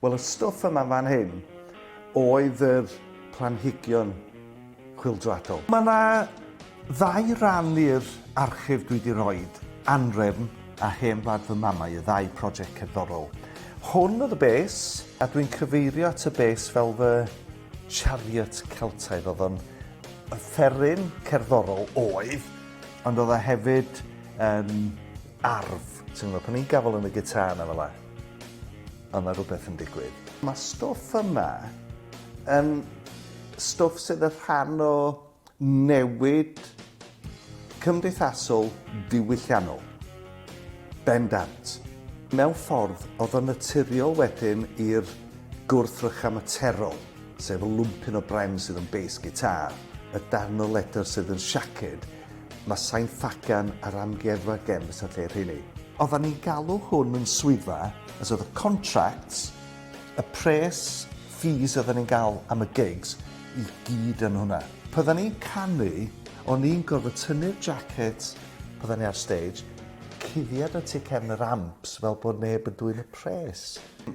Wel y stwff yma fan hyn oedd yr planhigion chwyldroadol. Mae yna ddau ran i'r archif dwi di roid, anrefn a hen wlad fy mamau, y ddau project cerddorol. Hwn oedd y base, a dwi'n cyfeirio at y base fel fy chariot Celtaidd. Oedd o'n offeryn cerddorol oedd, ond oedd o hefyd yn arf, ti'n gwybod, pan i'n gafel yn y gitar na fel yna. A ma' rwbeth yn digwydd. Ma'r stwff yma yn stwff sydd y rhan o newid cymdeithasol diwylliannol. Bendant. Mewn ffordd, o'dd o'n naturiol wedyn i'r gwrthrychau materol, sef y lwmpyn o bren sydd yn bês gitâr, y darn o ledr sydd yn siaced, Mae sain ffagan ar Amgueddfa Gems y lle rheini. Oeddan ni'n galw hwn yn swyddfa, as oedd y contracts, y pres, fees oeddan ni'n gael am y gigs, i gyd yn hwnna. Pan oeddan ni'n canu, o'n i'n gorfod tynnu'r jacket pan oeddan ni ar stage, cuddiad o tu cefn yr amps fel bod neb yn dwyn y pres.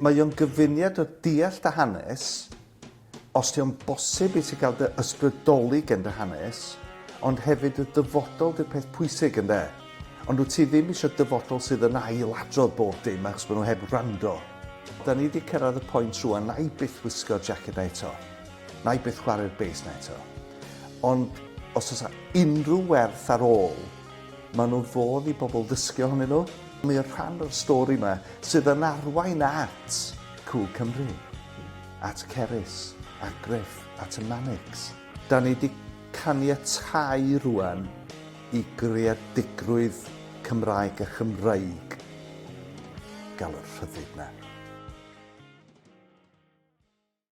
Mae o'n gyfuniad o deall dy hanes, Os dio'n bosib i ti gael dy ysbrydoli gen dy hanes, ond hefyd y dyfodol di'r peth pwysig ynde? Ond wyt ti ddim eisiau dyfodol sydd yn ail adrodd bob dim achos bod nhw heb wrando? Da ni di cyrraedd y point rwan na'i byth wisgo'r jacket na eto. Na'i byth chware'r bass na eto. Ond os oes a unrhyw werth ar ôl, maen nhw fodd i bobl ddysgu ohonyn nhw. Mae o'n rhan o'r stori yma sydd yn arwain at Cŵl Cymru. at Cerys, a Griff at y Manics. Da ni di caniatáu rwan i greadigrwydd Cymraeg a Chymreig gael y rhyddid na.